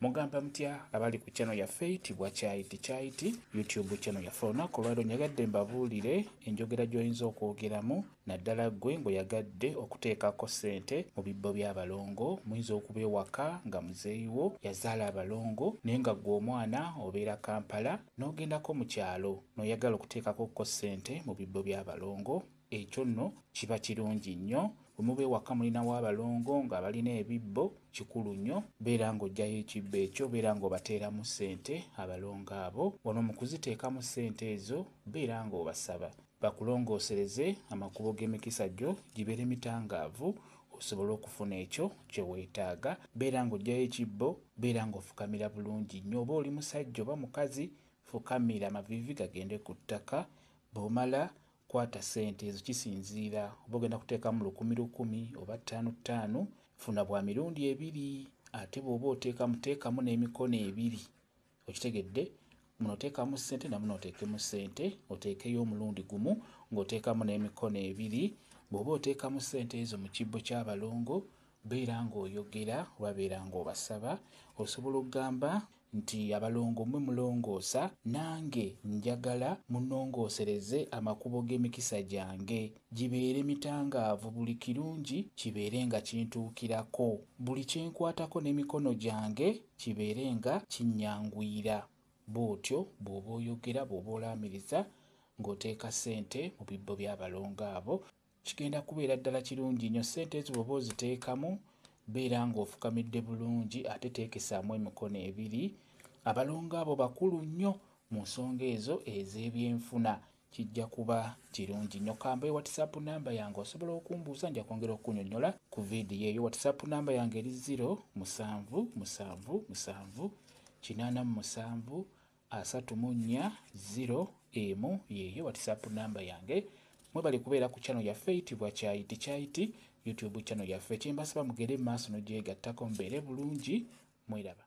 Mugamba mutya abali ku channel yaffe eyitibwa Kyayiti Kyayiti YouTube channel yaffe olunaku olwaliro nyagadde mbabuulire enjogera gy'oyinza okwogeramu naddala ggwe ng'oyagadde okuteekako ssente mu bibbo by'abalongo muyinza okuba ewaka nga muzeeyi wo yazaala abalongo naye nga ggwe omwana obeera Kampala n'ogendako mu kyalo n'oyagala okuteekakokko ssente mu bibbo by'abalongo Ekyo nno kiba kirungi nnyo. Bwe muba ewaka mulinawo abalongo nga balina ebibbo, kikulu nnyo beera nga oggyayo ekibbo ekyo, beera nga obateeramu ssente abalongo abo. Wano mu kuziteekamu ssente ezo, beera nga obasaba bakulongoosereze amakubo g'emikisa gyo gibeere mitangaavu osobole okufuna ekyo kye weetaaga. Beera nga oggyayo ekibbo, beera nga ofukamira bulungi nnyo oba oli musajja oba mukazi, fukamira amaviivi gagende ku ttaka. Bw'omala Kwata ssente ezo kisinziira oba ogenda kuteekamu lukumi lukumi oba ttaano ttaano, funa bwa mirundi ebiri ate bw'oba oteekamu teekamu n'emikono ebiri okitegedde muno oteekamu ssente na muno oteekemu ssente oteekeyo omulundi gumu ng'oteekamu n'emikono ebiri bw'oba oteekamu ssente ezo mu kibbo ky'abalongo Beera ng'oyogera oba beera ng'obasaba. Osobola okugamba nti, Abalongo mmwe mulongoosa, nange njagala munnongoosereze amakubo g'emikisa gyange, gibeere mitangaavu, buli kirungi kibeere nga kintuukirako, buli kye nkwatako n'emikono gyange kibeere nga kinnyanguyira. Bw'otyo bw'oba oyogera, bw'oba olaamiriza ng'oteeka ssente mu bibbo by'abalongo abo. Kigenda kubeera ddala kirungi nyo. Sente ezo bwoba oziteekamu beera nga ofukamidde bulungi ate teekesaamu emikono ebiri. Abalongo abo bakulu nnyo mu nsonga ezo ez'ebyenfuna. Kijja kuba kirungi nyo. Kambawe whatsapp number yange osobola okumbuuza nja kwongera okukunyonyola ku video eyo. Whatsapp number yange eri zero musanvu musanvu musanvu kinaana mu musanvu asatu mu nnya ziro emu yeeyo whatsapp namba yange mwebale kubeera ku channel yaffe eyitibwa kyayiti kyayiti youtube channel yaffe kyembasaba mugere maaso nogyegattako mbeere bulungi mweraba